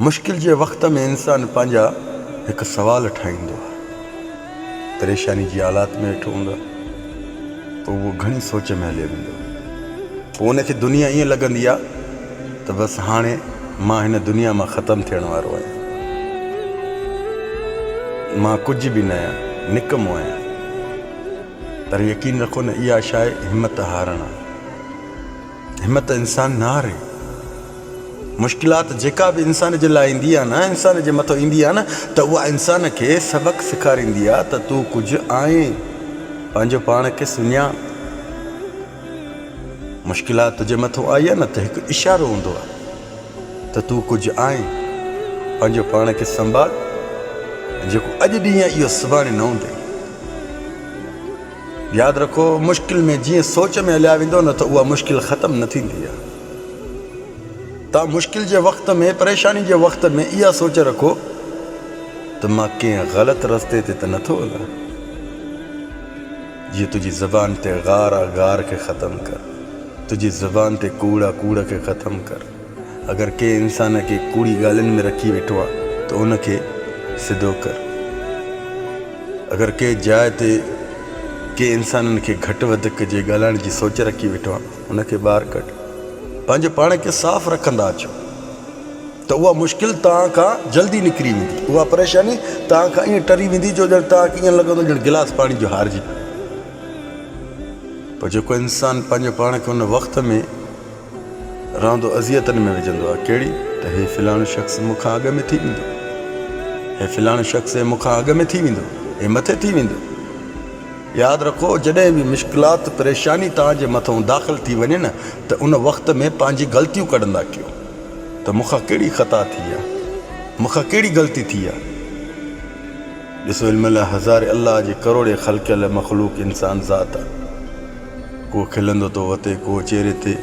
مشڪل جي وقت ۾ انسان پنهنجا هڪ سوال ٺاهيندو آهي. پريشاني جي حالات ۾ ويٺو هوندو آهي ته اهو گهڻي سوچ ۾ هليو ويندو آهي. پوء ان کي دنيا ائين لڳندي آهي ته بس هاڻي مان هن دنيا مان ختم ٿيڻ وارو آهيان. مان ڪجهه به نه آهيان، نڪمو آهيان. پر يقين رکو نه اها شايد همت هارڻ آهي. همت انسان نه هاري. مشڪلات جيڪا به انسان جي لاء ايندي آهي نه انسان جي مٿو ايندي آهي نه ته اها انسان کي سبق سيکاريندي آهي ته تون ڪجهه آهين پنهنجو پاڻ کي سڃاڻ. مشڪلات تنهنجي مٿو آئي آهي نه ته هڪ اشارو هوندو آهي ته تون ڪجهه آهين پنهنجو پاڻ کي سنڀال جيڪو اڄ ڏينهن اهو سڀاڻي نه هوندي. ياد رکو مشڪل ۾ جيئن سوچ ۾ هليا ويندو نه ته اها مشڪل ختم نه ٿيندي آهي. توهان مشڪل جي وقت ۾ پريشاني جي وقت ۾ اها سوچ رکو ته مان ڪنهن غلط رستي تي ته نه ٿو هلان. جيئن تنهنجي زبان تي غار آ غار کي ختم ڪر تنهنجي زبان تي ڪوڙ آ ڪوڙ کي ختم ڪر. اگر ڪنهن انسان کي ڪوڙي ڳالهين ۾ رکي ويٺو آ ته ان کي سڌو ڪر. اگر ڪنهن جاء تي ڪنهن انسانن کي گهٽ وڌ ڪجي ڳالهائڻ جي سوچ رکي ويٺو آ ان کي ٻاهر ڪڍ. پنهنجي پاڻ کي صاف رکندا اچو ته اها مشڪل توهان کان جلدي نڪري ويندي. اها پريشاني توهان کان ائين ٽري ويندي جو ڄڻ توهان کي ائين لڳندو ڄڻ گلاس پاڻي جو هارجي پيو. پر جيڪو انسان پنهنجي پاڻ کي ان وقت ۾. رهندو اذيتن ۾ وجهندو آهي ڪهڙي ته هي فلاڻو شخص مون کان اڳ ۾ ٿي ويندو هي فلاڻو شخص مون کان اڳ ۾ ٿي ويندو هي مٿي ٿي ويندو ياد رکو جڏهن به مشڪلات پريشاني توهان جي مٿون داخل ٿي وڃي نه ته ان وقت ۾ پنهنجي غلطيون ڪڍندا ڪيو ته مون کان ڪهڙي خطا ٿي آهي مون کان ڪهڙي غلطي ٿي آهي ڏسو علم الله هزاري الله جي ڪروڙي خلقيل مخلوق انسان ذات آهي ڪو کلندو ٿو وتي، ڪو چهري تي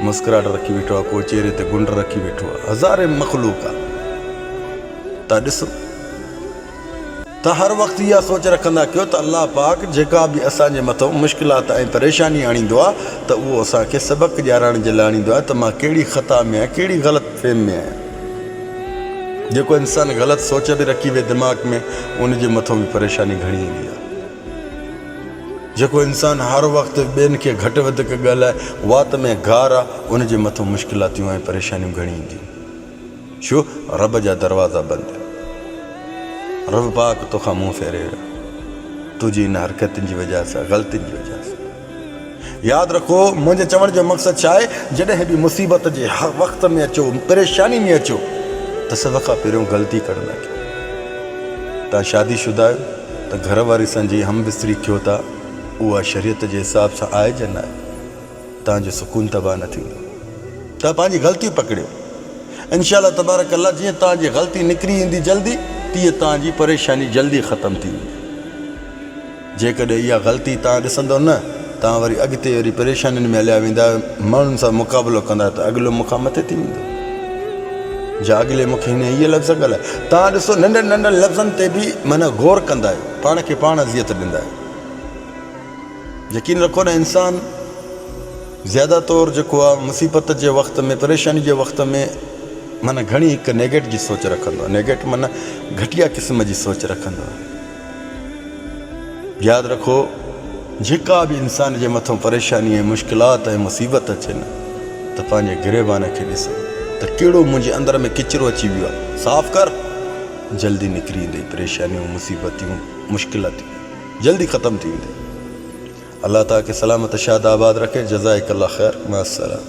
مسڪراهٽ رکي ويٺو آهي، ڪو چهري تي گنڊ رکي ويٺو آهي. هزارين مخلوق آهن. ته ڏسو ته هر وقت اها سوچ رکندا ڪيو ته الله پاڪ جيڪا به اسان جي مٿو مشڪلات ۽ پريشاني آڻيندو آهي ته اهو اسان کي سبق ڏيارڻ جي لاء آڻيندو آهي ته مان ڪهڙي خطا ۾ آهيان ڪهڙي غلط فهم ۾ آهيان. جيڪو انسان غلط سوچ به رکي ويهي دماغ ۾ ان جي مٿو به پريشاني گهڻي ايندي آهي. جيڪو انسان هر وقت ٻين کي گهٽ وڌڪ ڳالهائي وات ۾ گار آ ان جي مٿو مشڪلاتيون ۽ پريشانيون گهڻي اينديون ڇو رب جا دروازا بند رب پاڪ توکان منهن ڦيري ويو تنهنجي ان حرڪتن جي وجه سان غلطين جي وجه سان. ياد رکو منهنجي چوڻ جو مقصد ڇا آهي جڏهن به مصيبت جي وقت ۾ اچو پريشاني ۾ اچو ته سڀ کان پهريون غلطي ڪرڻ نه ڏيو توهان شادي شده آهيو ته گهر واري سان جي هم بستري ٿيو ٿا اها شريعت جي حساب سان آهي جا ناهي توهان جو سڪون تباهه نه ٿيندو توهان پنهنجي غلطي پڪڙيو انشاء الله تبارڪ الله جيئن توهان جي غلطي نڪري ايندي جلدي تيئن توهان جي پريشاني جلدي ختم ٿيندي جيڪڏهن اها غلطي توهان ڏسندو نه، توهان وري اڳتي اهڙي پريشانين ۾ هليا ويندا، ماڻهن سان مقابلو ڪندا ته اڳلو مون کان مٿي ٿي ويندو. جا اڳلي مون کي هن هيء لفظ ڳالهايا. توهان ڏسو، ننڍن ننڍن لفظن تي به معنيٰ غور ڪندا آهيو، پاڻ کي پاڻ اذيت ڏيندا آهيو. يقين رکو نه انسان زياده طور جيڪو آهي مصيبت جي وقت ۾ پريشاني جي وقت ۾ معنيٰ گهڻي هڪ نيگيٽ جي سوچ رکندو آهي، نيگيٽ معنيٰ گهٽيا قسم جي سوچ رکندو آهي. ياد رکو جيڪا به انسان جي مٿان پريشاني ۽ مشڪلات ۽ مصيبت اچي نه ته پنهنجي گريبان کي ڏس ته ڪهڙو منهنجي اندر ۾ ڪچرو اچي ويو آهي صاف ڪر جلدي نڪري ايندئي پريشانيون مصيبتون مشڪلتون جلدي ختم ٿي ويندئي الله تاکي سلامت شاد آباد رکي جزائڪ الله خير مع السلام.